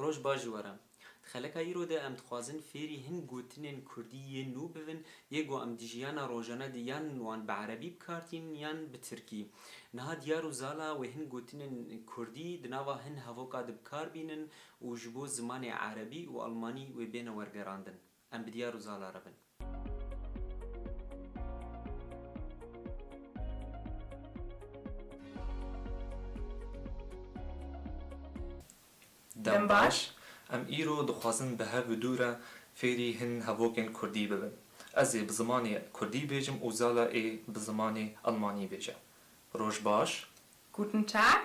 Roj baş ji we re. Di xeleka îro de em dixwazin fêrî hin gotinên kurdî yên nû bibin yê ku em di jiyana rojane de yan wan bi erebî bikartînin yan bi tirkî. Niha diyar û zala wê hin gotinên kurdî di nava hin hevoka de bikar bînin û ji bo zimanê erebî û almanî wê bêne wergerandin, em bi diyar û zala re bin. Dem baş, em îro dixwazin bi hev bi dû re fêrî hin hevokên kurdî bibin. Ez ê bi zimanê kurdî bêjim û zala ê bi zimanê almanî bêje. Roj baş. Guten Tag.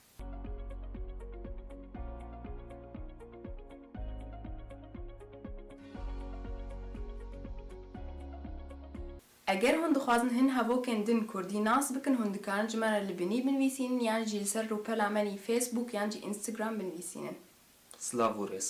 Eger hûn dixwazin hin hevokên din kurdî nas bikin hûn dikarin ji me re li binî binivîsînin yan jî li ser rûpela me nî Facebook yan jî Instagram binivîsînin. Silav û rêz.